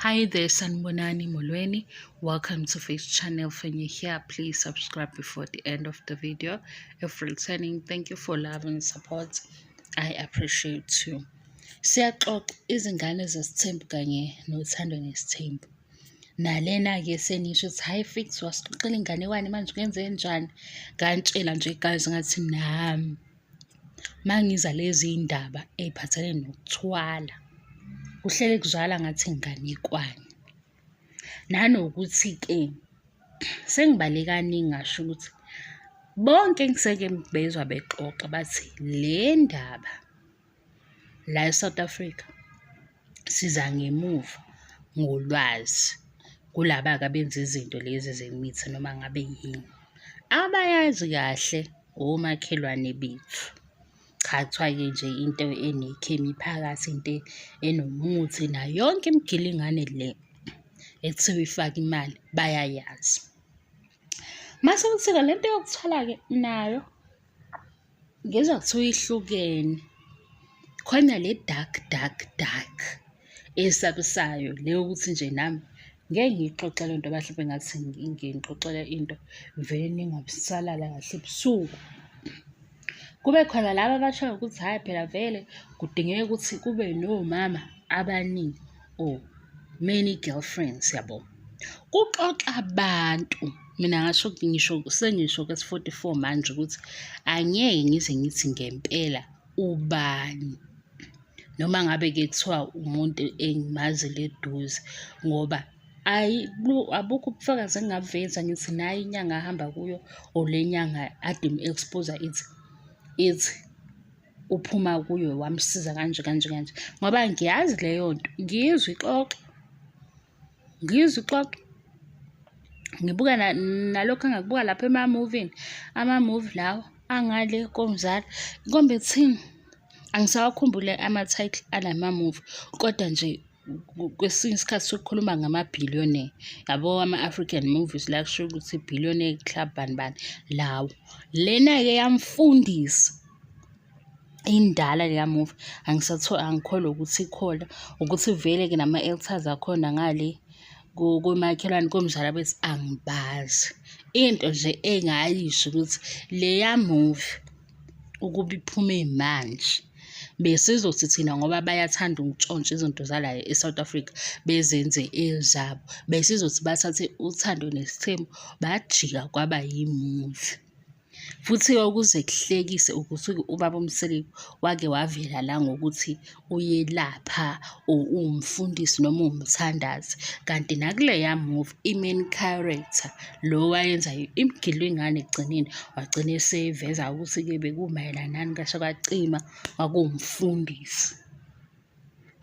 Hi there, Sanbonani Molweni. Welcome to Face Channel. When you're here, please subscribe before the end of the video. If returning, thank you for love and support. I appreciate you. Siyaxoxa izingane zesithembu kanye nothando nesithembu. Nalena-ke senisho ukuthi hhayi fix wasixoxela inganekwane manje kwenze njani? Ngantshela nje guys ngathi nami. mangiza lezi ndaba ey'phathelene nokuthwala, kuhlele kuzwakala ngathi nginganekwane. Nanokuthi-ke sengibale kaningi ngasho ukuthi bonke engiseke ngibezwa bexoxa bathi le ndaba. la eSouth Africa siza ngemuva ngolwazi kulaba-ke abenza izinto lezi zemithi noma ngabe yini abayazi kahle omakhelwane bethu cha kuthiwa-ke nje into enekhemi phakathi into enomuthi nayo yonke imigilingane le ekuthiwa ifaka imali bayayazi mase kuthi-ke le nto yokuthwala-ke nayo Ngizwa kuthiwa ihlukene. Khona le dark dark dark esabisayo le yokuthi nje nami ngeke ngiyixoxe le nto mhlawumbe ngathi ngiyixoxela into ngivele ningabusalala kahle ebusuku. Kube khona laba abashoyo ukuthi hhayi phela vele kudingeka ukuthi kube nomama abaningi. or many girlfriends yabo kuxoxa abantu mina ngasho ukuthi ngisho sengisho kwesi-44 manje ukuthi angeke ngize ngithi ngempela ubani noma ngabe-ke kuthiwa umuntu engimazi leduze ngoba ayi abukho ubufakazi engingabuveza ngithi nayi inyanga ahamba kuyo or le nyanga ade expose ithi ithi uphuma kuyo wamsiza kanje kanje kanje ngoba ngiyazi leyo nto ngiyizwa ixoxa ngiyizwa ixoxa ngibuka nalokhu engakubuka lapha ema-movini ama-movie lawa angale komzala kombe kuthini angisawakhumbule ama-title alama-movie kodwa nje kwesinye isikhathi sokukhuluma ngama-billionaire yabo ama-african movies la kusho ukuthi billionaire club bani bani lawo lena-ke yamfundisa indala leya movie angisathola angikholwa ukuthi ikhona ukuthi vele-ke nama-elters akhona ngale komakhelwane komzala bethi angibazi into nje engayisho ukuthi leya movie ukuba iphume manje besizothi thina ngoba bayathanda ukutshontsha izinto zalayo e-South Africa bezenze ezabo besizothi bathathe uthando nesithembu bajika kwaba yimuvi futhi-ke ukuze kuhlekise ukuthi ubaba umseleku wake wavela la ngokuthi uyelapha or uwumfundisi noma uwumthandazi kanti nakuleya movie i-main character lo wayenzayo imgilwe ingane ekugcineni wagcina eseyiveza ukuthi-ke bekumayelanani kasho kwacima kwakuwumfundisi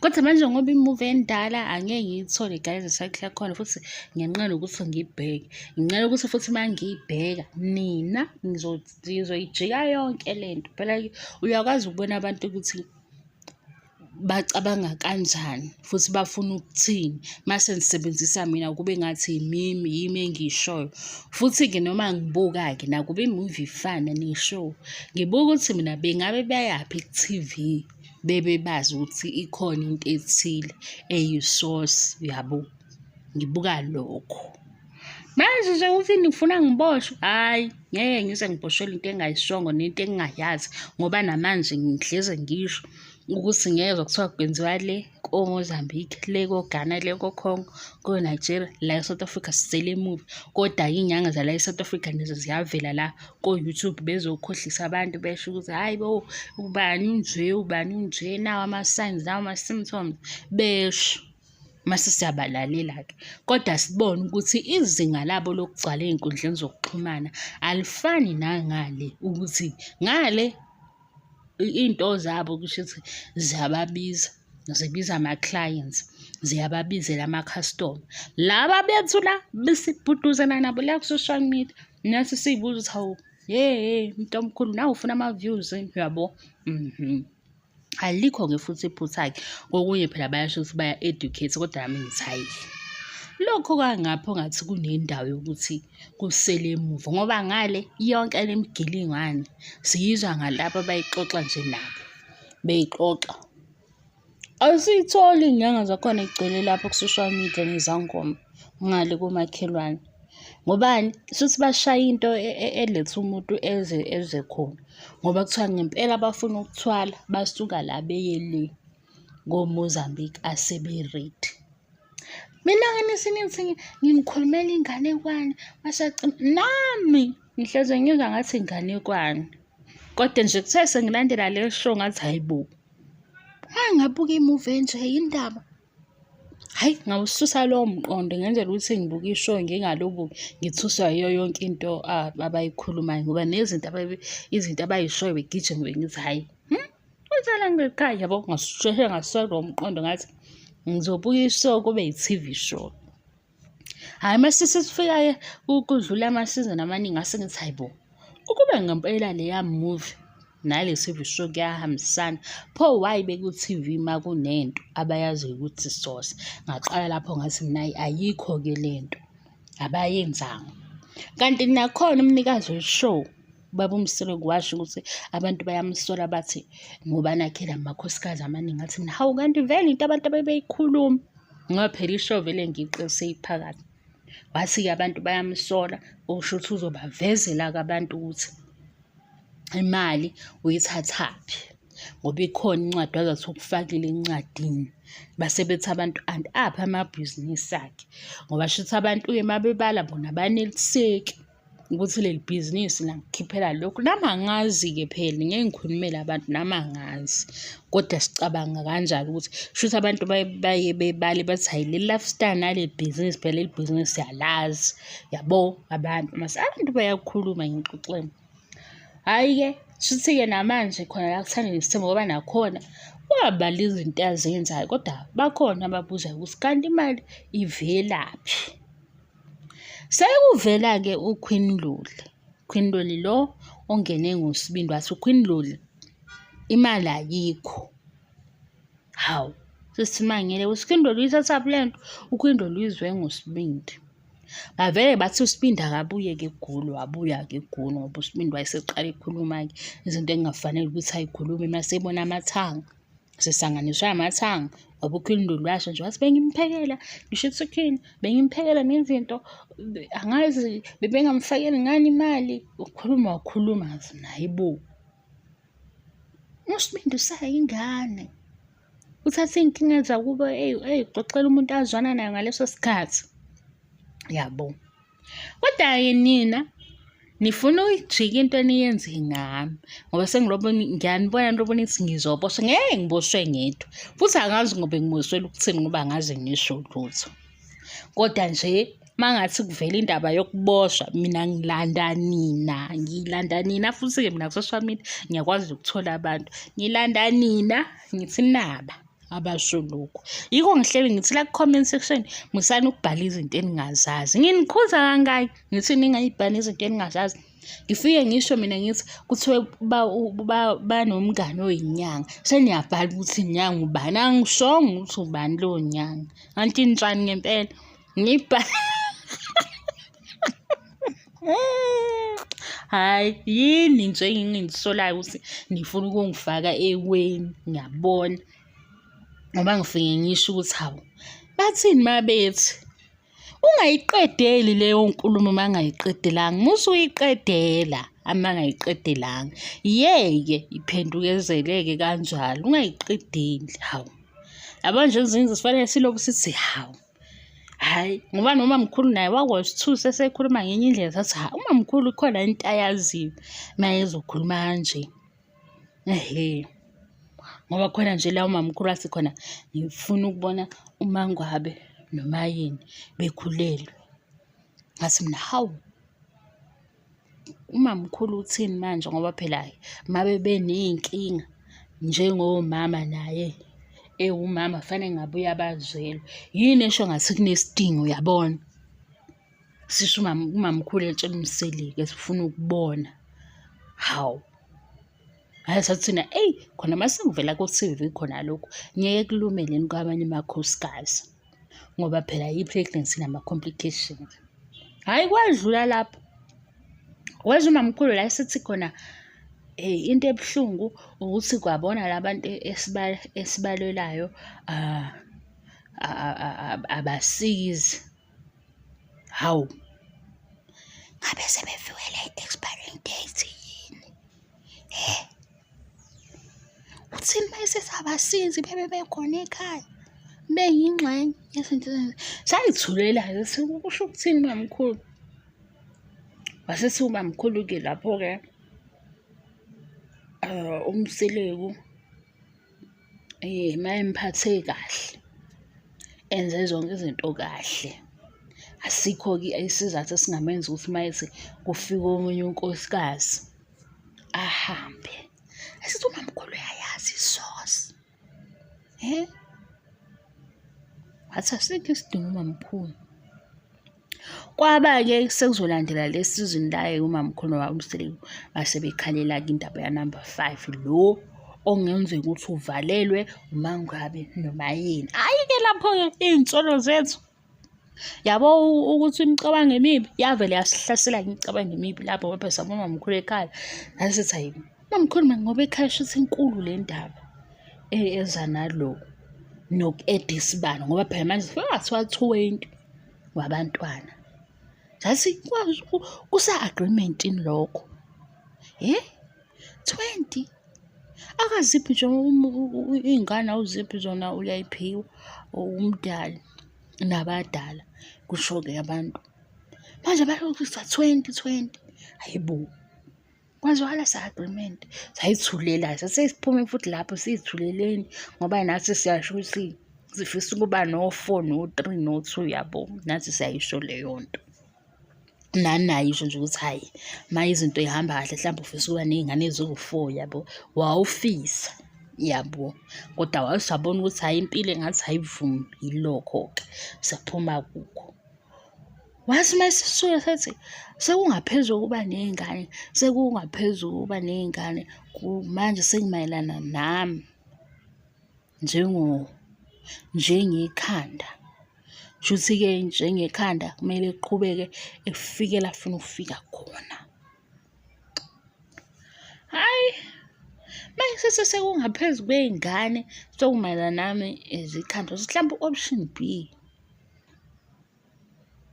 kodwa manje ngoba imuvi endala angeke ngiyithole guys isakhi yakhona futhi ngenqela ukuthi ngiyibheke nginqela ukuthi futhi uma ngiyibheka nina nizoyijika yonke le nto phela uyakwazi ukubona abantu ukuthi bacabanga kanjani futhi bafuna ukuthini mase ngisebenzisa mina kube ngathi yimimi yimi engiyishoyo futhi-ke noma ngibuka-ke nakuba imuvi ifana ne-show ngibuka ukuthi mina bengabe bayaphi ku-T_V bebe bazi ukuthi ikhona into ethile eyisosi yabo ngibuka lokho. manje nje uthi ngifuna ngiboshwe hhayi ngeke ngize ngiboshelwe into engayishongo nento engingayazi ngoba namanje ngihleze ngisho ukuthi ngezwa kuthiwa kwenziwa le komozambique le kogana le kocongo konigeria la esouth africa sisele emuva kodwa iy'nyanga zala esouth africa nazo ziyavela la ko-youtube bezokhohlisa abantu besho ukuthi hhayi bo ubani unje ubani unje nawo ama-signs nawo ama-symptoms besho mase siyabalalela-ke kodwa sibone ukuthi izinga labo lokugcwala ey'nkundleni zokuxhumana alifani nangale ukuthi ngale iy'nto zabo kusho ukuthi ziyababiza zibiza ama-clients ziyababizela ama-customer laba bethu la besibhuduzana nabo la ku-social media nathi siyibuza ukuthi hawu ye mntu omkhulu nawe ufuna ama-views yabo mhm alikho-ke futhi iphutha-ke kokunye phela bayasho ukuthi baya-educate kodwa nami ngithi hhayi lokho kwangapho ngathi kunendawo yokuthi kusele emuva ngoba ngale yonke le migilingwane siyizwa ngalabo abayixoxa nje nabo beyixoxa asiyitholi inyanga zakhona igcwele lapho ku-social media nezangoma ngale komakhelwane ngobani shuthi bashaya into e, e, eletha umuntu eze eze khona ngoba kuthiwa ngempela bafuna ukuthwala basuka la beye le komozambique asebe-red mina nganise nithi nginikhulumela inganekwane bashaci nami ngihleze ngizwa ngathi inganekwane kodwa nje kuthe sengilandela le show ngathi hayi bo angabuka imuvi enje yindaba Hhayi ngawususa lowo mqondo ngenzela ukuthi ngibuke ishow ngingaloku ngithuswa yiyo yonke into abayikhulumayo ngoba nezinto izinto abayishoyo begijima bengithi hhayi hmm, uzala ngiqhayi yabo ngasheshe ngasusa lowo mqondo ngathi ngizobuka ishow kube yi-T_V show. Hhayi uma sesifika-ke kudlula amasizini amaningi ngase ngithi hhayi bo, ukube ngempela leya movie nale TV show kuyahambisana, pho why beku-T_V uma kunento abayaziyo ukuthi isosa? Ngaqala lapho ngathi mina hhayi ayikho-ke le nto, abayenzanga. Kanti nakhona umnikazi we-show. ubaba umsolo kwasho ukuthi abantu bayamsola bathi ngoba nakhe la makhosikazi amaningi athi mina hawu kanti vele into abantu abebeyikhuluma ngoba phela isho vele ngiqise iphakathi wathi-ke abantu bayamsola usho ukuthi uzobavezela-ke abantu ukuthi imali uyithathaphi ngoba ikhona incwadi wazathi ukufakile encwadini base bethi abantu and aphi amabhizinisi akhe ngoba shuthi abantu uye mabebala bona baneliseki ukuthi leli bhizinisi langikhiphela lokhu nami angazi-ke phela ngeke ngikhulumele abantu nami angazi kodwa sicabanga kanjalo ukuthi shuthi abantu baye bebale bathi hayi leli lifestyle nale bhizinisi phela leli bhizinisi siyalazi yabo abantu mase abantu bayakhuluma ngixoxeni hhayi-ke shuthi-ke namanje khona la kuthanda nesithemba ngoba nakhona wabala izinto azenzayo kodwa bakhona ababuzayo ukuthi kanti imali ivelaphi Sekuvela-ke uQueen Luli, Queen Luli lo ongene ngosibindi wathi uQueen Luli imali ayikho. Hawu, sesimangele uSikhindi Luli ithathaphi le nto, uQueen Luli uyizwe ngosibindi. Bavele bathi uSibindi akabuye-ke eGoli, wabuya-ke eGoli ngoba uSibindi wayeseqala ekhuluma-ke izinto ekungafanele ukuthi ayikhulume uma sebona amathanga. sisanganiswe amathanga ngoba ukhulundu lwasho nje wathi bengimphekela ngisho ethukhini bengimphekela nezinto angazi bebengamfakeli ngani imali ukhuluma wakhuluma naye bo usibindi usayingane uthathe iy'nkinga zakubo eyixoxela umuntu azwana nayo ngaleso sikhathi yabo Kodwa-ke nina nifuna ukujika into eniyenze ngami ngoba sengilobo ngiyanibona nilobona ithi ngizoboswa ngeke ngiboswe ngedwa futhi angazi ngoba ngiboswela ukuthini ngoba angazi ngisho lutho kodwa nje mangathi kuvela indaba yokuboshwa mina ngilanda nina ngilanda nina futhi-ke mina ku-social media ngiyakwazi ukuthola abantu ngilanda nina ngithi naba abasho lokhu yiko ngihleli ngithi la ku-comment section musani ukubhala izinto eningazazi nginikhuza kangaki ngithi ningayibhali izinto eningazazi ngifike ngisho mina ngithi kuthiwe banomngane oyinyanga seniyabhala ukuthi inyanga ubani angishongo ukuthi ubani lowo nyanga kanti injani ngempela Ngipa. hayi yini nje engingisolayo ukuthi nifuna ukungifaka eweni ngiyabona ngoba ngifike ngisho ukuthi hawu bathini mabethi ungayiqedeli leyo nkulumo uma ngayiqedelanga musu uyiqedela uma ngayiqedelanga yeke iphendukezeleke kanjalo ungayiqedeli hawu yabo nje ezinye sifanele siloku sithi hawu hhayi ngoba nomamkhulu naye wakwasithusa esekhuluma ngenye indlela sathi hha umamkhulu khona into ayaziyo uma ezokhuluma kanje ehe ngoba khona nje la umamkhulu athi khona ngifuna ukubona umangwabe nomayeni bekhulelwe ngathi mina hawu umamkhulu uthini manje ngoba phela mabe beney'nkinga njengomama naye ewumama fanele ngabe uyabazwelwa yini esho ngathi kunesidingo uyabona sisho umamkhulu etshela umselike sifuna ukubona hawu hayi sathina eyi khona masengivela ku-tv khona lokhu ngeke kulumele kwabanye amakhosikazi ngoba phela i-pregnancy nama-complications hhayi kwadlula lapho wezwa umamkhulu la esithi khona um into ebuhlungu ukuthi kwabona la bantu esibalelayo um abasizi hawu ngabe sebefiwele i-expiring date yini um Uthini uma esesabasizi bebe bekhona ekhaya beyingxenye yezinto sangithulela-ke kusho ukuthini ubamkhulu wasethi ubamkhulu-ke lapho-ke um umseleku um mayemphathe kahle enze zonke izinto kahle asikho-ke isizathu esingamenza ukuthi mayethi kufika omunye unkosikazi ahambe asithi umamkhulu uyayazi isosi he wathi asikho isidingo umamkhulu kwaba-ke sekuzolandela le sizini laye umamkhulu wawumseleku base bekhalela-ke indaba yanumber five lo ongenzeka ukuthi uvalelwe umangabe noma yini hhayi-ke lapho-ke iy'nsolo zethu yabo ukuthi imicabango emibi yavele yasihlasela imicabango emibi lapho ngoba sabona mamkhulu ekhaya nasithi hayi mamkhulu mani ngoba ekhaya shuthi inkulu le ndaba e, eza naloku noku-eda isibalo ngoba phela manje sekathiwa twenty wabantwana zathi kusa-agreementini lokho um 20 akaziphi nje iy'ngane awuziphi zona uyayiphiwa umdali nabadala kusho-ke abantu manje balokisa 2020 hayibo kwazwakala sa-agreement sayithulela sasesiphume futhi lapho siyithuleleni ngoba nathi siyasho ukuthi sifisa ukuba no-four no-three no-two yabo nathi siyayisho leyo nto nani naye usho nje ukuthi hhayi uma izinto ihamba kahle mhlawumbe ufisa ukuba ney'ngane eziwu-four yabo wawufisa yabo kodwa wawusabona ukuthi hhayi impilo engathi hayivumi yilokho-ke saphuma kukho wathi uma sisuke sethi sekungaphezu kokuba ney'ngane sekungaphezu kokuba ney'ngane manje sengimayelana nami njengo njengekhanda shuthi-ke njengekhanda kumele kuqhubeke efike la funa ukufika khona hayi mayisese sekungaphezu kwey'ngane sokumayelana nami izikhandlo mhlawumbe u-option b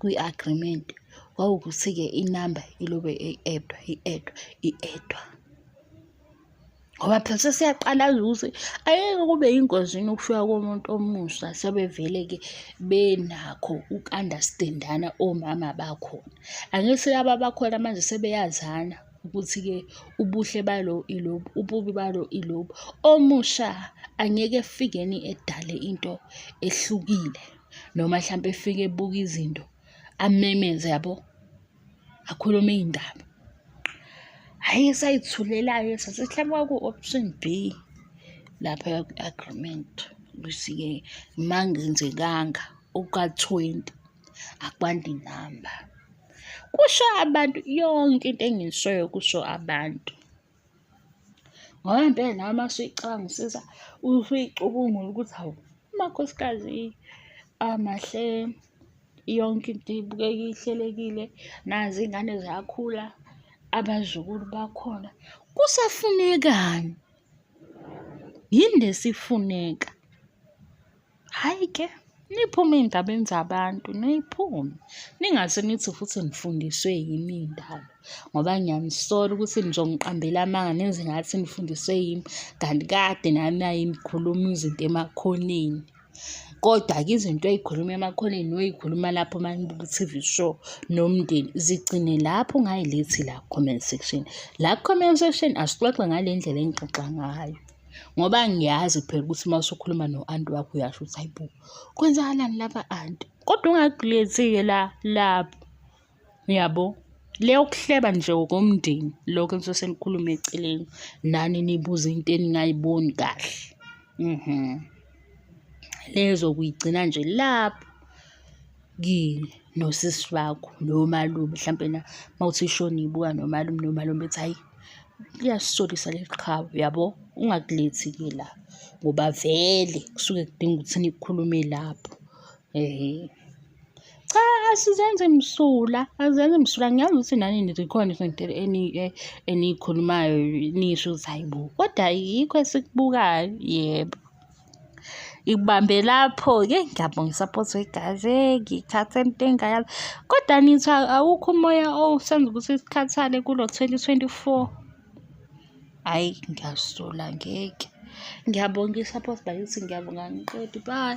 kwi-agreement kwawukuthi-ke inamba ilobe i-edwa i-edwa i-edwa ngoba phela sesiyaqalaza ukuthi ayeke kube yingozini ukufika komuntu omusha sebevele-ke benakho uku-understandana omama bakhona angithi laba bakhona manje sebeyazana ukuthi-ke ubuhle balo ilobu ububi balo ilobu omusha angeke efikeni edale into ehlukile noma mhlawumpe efike ebuka izinto amemeze yabo akhulume iy'ndaba hhayi esayithulelayo sasihlaba ku-option b lapha agreement ukuthi-ke uma ngenzekanga okuka-twenty akwandi inamba kusho abantu yonke into engiyishoyo kusho abantu Ngoba impela nawe uma usuyicabangisisa usuyicubungula ukuthi hawu amakhosikazi amahle yonke into ibukeka ihlelekile nazi iy'ngane ziyakhula abazukulu bakhona kusafunekani yini lesifuneka Hhayi ke, niphume ey'ndabeni zabantu, niyiphume. Ningase nithi futhi nifundiswe yimi iy'ndaba ngoba ngiyanisola ukuthi nizongiqambela amanga nenze ngathi nifundiswe yimi kanti kade nami ayengikhuluma izinto emakhoneni. Kodwa-ke izinto ey'khuluma emakhoneni noy'khuluma lapho uma nibuka i-T_V show nomndeni zigcine lapho ungayilethi la ku-comment section. La ku-comment section asixoxe ngale ndlela engixoxa ngayo. ngoba ngiyazi phela ukuthi uma usukhuluma no-anti wakho uyasho ukuthi hayi bo kwenzakalani lapha anti kodwa ungagilezi-ke la lapho uyabo le yokuhleba nje ngokomndeni lokho enisuke senikhulume eceleni nani nibuze into eningayiboni kahle mhm lezokuyigcina nje lapho kini nosisi wakho nomalume mhlampe na mawuthi ishona ibuka nomalume nomalume bethi hayi liyasisolisa leli qhawe yabo ungakulethi ke la ngoba vele kusuke kudinga ukuthi nikhulume lapho ehe cha asizenze msula azenze msula ngiyazi ukuthi nani nikhona izinto eh, eniyikhulumayo nisho ukuthi hayi bo kodwa yikho esikubukayo yebo ngibambe lapho-ke ngiyabonga isaphothi wegazi ngithathe into engayazi kodwa nithi awukho umoya owusenza ukuthi sikhathale kulo 2024 hhayi ngiyasola ngeke ngiyabonga isaphothi bakithi ngiyabonga ngiqedi bye